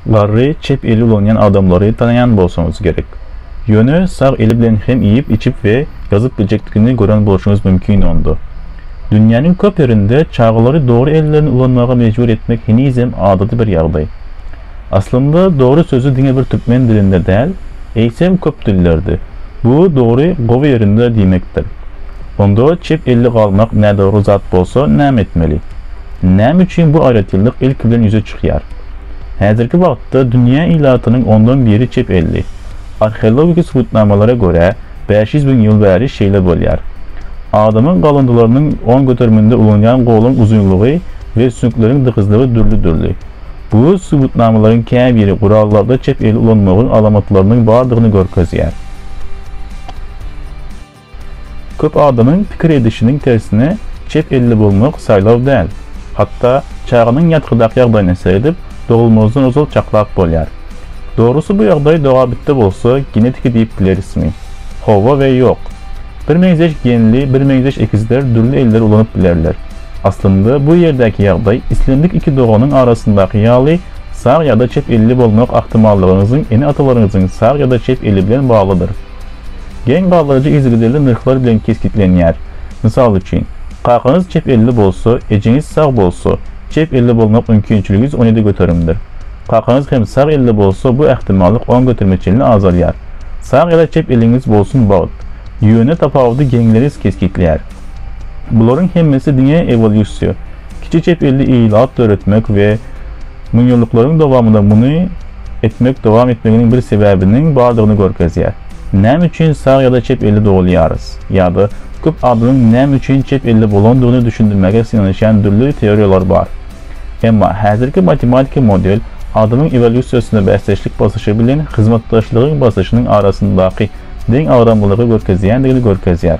Garry çep eli ulanýan adamlary tanaýan bolsaňyz gerek. Ýöne sag eli bilen hem iýip, içip we ýazyp biljekdigini gören bolşuňyz mümkin onda. Dünýäniň köp ýerinde çagalary dogry ellerini ulanmaga mejbur etmek henizem adaty bir ýagdaý. Aslynda dogry sözi diňe bir türkmen dilinde däl, eýsem köp dillerde, bu dogry gowy ýerinde diýmekdir. Onda çep elli galmak nädogry zat bolsa näme etmeli? Näme üçin bu aýratynlyk ilki bilen ýüze çykýar? Häzirki wagtda dünýä ilatynyň ondan biri çep elli. Arheologiki subutnamalara görä, bäş ýüz müň ýyl bäri şeýle bolýar. Adamyň galyndylarynyň on göteriminde ulanýan goluň uzynlygy we süňkleriň dykyzlygy dürli-dürli. Bu subutnamalaryň käbiri gurallarda çep eli ulanmagyň alamatlarynyň bardygyny görkezýär. Köp adamyň pikir edişiniň tersine çep elli bolmak saýlaw däl. Hatda çaganyň ýatgydak ýagdaýyny seredip, dogulmazdan ozal çaklap bolýar. Dogrusy bu ýagdaý dogabitdi bolsa genetiki diýip bilerismi? Hawa we ýok. Birmeňzeş genli, birmeňzeş ekizler dürli elleri ulanyp bilerler. Aslynda bu ýerdäki ýagdaý islendik iki doganyň arasyndaky ýaly sag ýa-da çep elli bolmak ahtimallygyňyzyň ene-atalaryňyzyň sag ýa-da çep eli bilen baglydyr. Geň galdyryjy yzygiderli nyrhlar bilen kesgitlenýär. Mysal üçin, kakaňyz çep elli bolsa, ejeňiz sag bolsa, çep elli bolmak mümkinçiligiz on ýedi göterimdir. Kakaňyz hem sag elli bolsa, bu ähtimallyk on göterime çenli azalýar. Sag ýa-da çep eliňiz bolsun bagt. Ýöne tapawudy geňleriz kesgitleýär. Bularyň hemmesi diňe ewolýusiýa, kiçi çep elli ilat döretmek we Müňýyllyklaryň dowamynda muny etmek dowam etmeginiň bir sebäbiniň bardygyny görkezýär. Näme üçin sag ýa-da çep elli dogulýarys? Ýa-da köp adamyň näme üçin çep elli bolandygyny düşündirmäge synanyşýan dürli teoriýalar bar. Emma häzirki matematiki model adamyň ewolýusiýasyna bäsdeşlik basyşy bilen hyzmatdaşlygyň basyşynyň arasyndaky deň agramlylygy görkezýändigini görkezýär.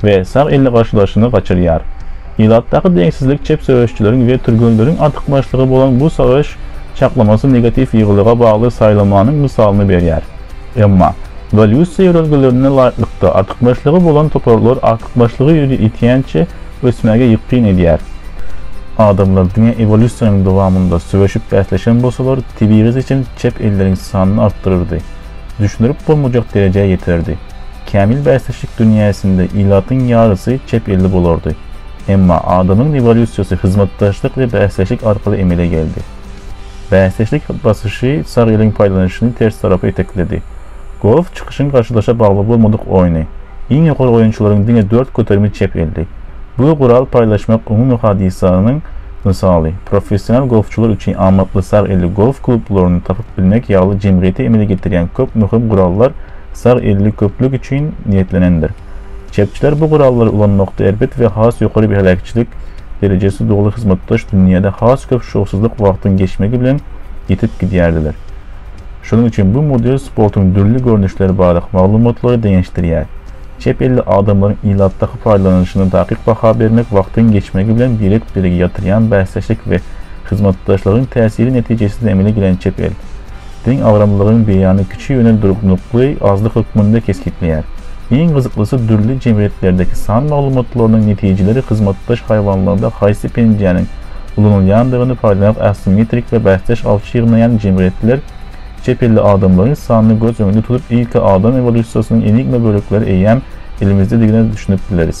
we sag elli garşydaşyny gaçyrýar. Ilatdaky deňsizlik çep söweşçileriň we türgenleriň artykmaçlygy bolan bu söweş çaklamasy negatiw ýygylyga bagly saýlamanyň mysalyny berýär. Emma, ewolýusiýa ýörelgelerine laýyklykda, artykmaçlygy bolan toparlar artykmaçlygy ýüze ýetýänçä ösmäge ýykgyn edýär. Adamlar diňe ewolýusiýanyň dowamynda söweşip bäsleşen bolsalar, tebigy seçim çep elleriň sanyny artdyrardy, düşündirip bolmajak derejä ýeterdi. Kämil bäsleşik dünýäsinde ilatyň ýarysy çep elli bolardy. Emma adamyň ewolýusiýasy hyzmatdaşlyk we bäsleşik arkaly emele geldi. Bäsleşik basyşy sag eliň paýlanyşyny ters tarapa itekledi. Golf çykyşyň garşydaşa bagly bolmadyk oýny. Iň ýokary oýunçylaryň diňe dört göterimi çep elli. Bu gural paýlaşmak umumy hadysanyň mysaly. Professional golfçylar üçin amatly sag elli golf klublaryny tapyp bilmek ýaly jemgyýete emele getirýän köp möhüm gurallar sag elli köplük üçin niýetlenendir. Çepçiler bu guraly ulanmakda erbet we has ýokary bir heläkçilik derejesi doly hyzmatdaş dünýäde has köp şowsuzlyk wagtyň geçmegi bilen ýitip gidýärdiler. Şonuň üçin bu model sportuň dürli görnüşleri barada maglumatlary deňeşdirýär. Çep elli adamlaryň ilatdaky paýdalanylyşyna takyk baha bermek wagtyň geçmegi bilen birek-birege ýatyrýan bäsdeşlik we hyzmatdaşlygyň täsiri netijesinde emele gelen çep el Deň agramlylygyň beýany kiçi ýöne durnukly azlyk hökmünde kesgitleýär. Iň gyzyklysy dürli jemgyýetlerdäki san maglumatlarynyň netijeleri hyzmatdaş haýwanlarda haýsy penjäniň ulanylýandygyny paýlamak assimetrik we bäsdeş awçy ýygnaýan jemgyýetler çepelli adamlaryň sanyny göz öňünde tutup ilki adam ewolýusiýasynyň enigma bölekleri eýýäm elimizdedigine düşünip bileris.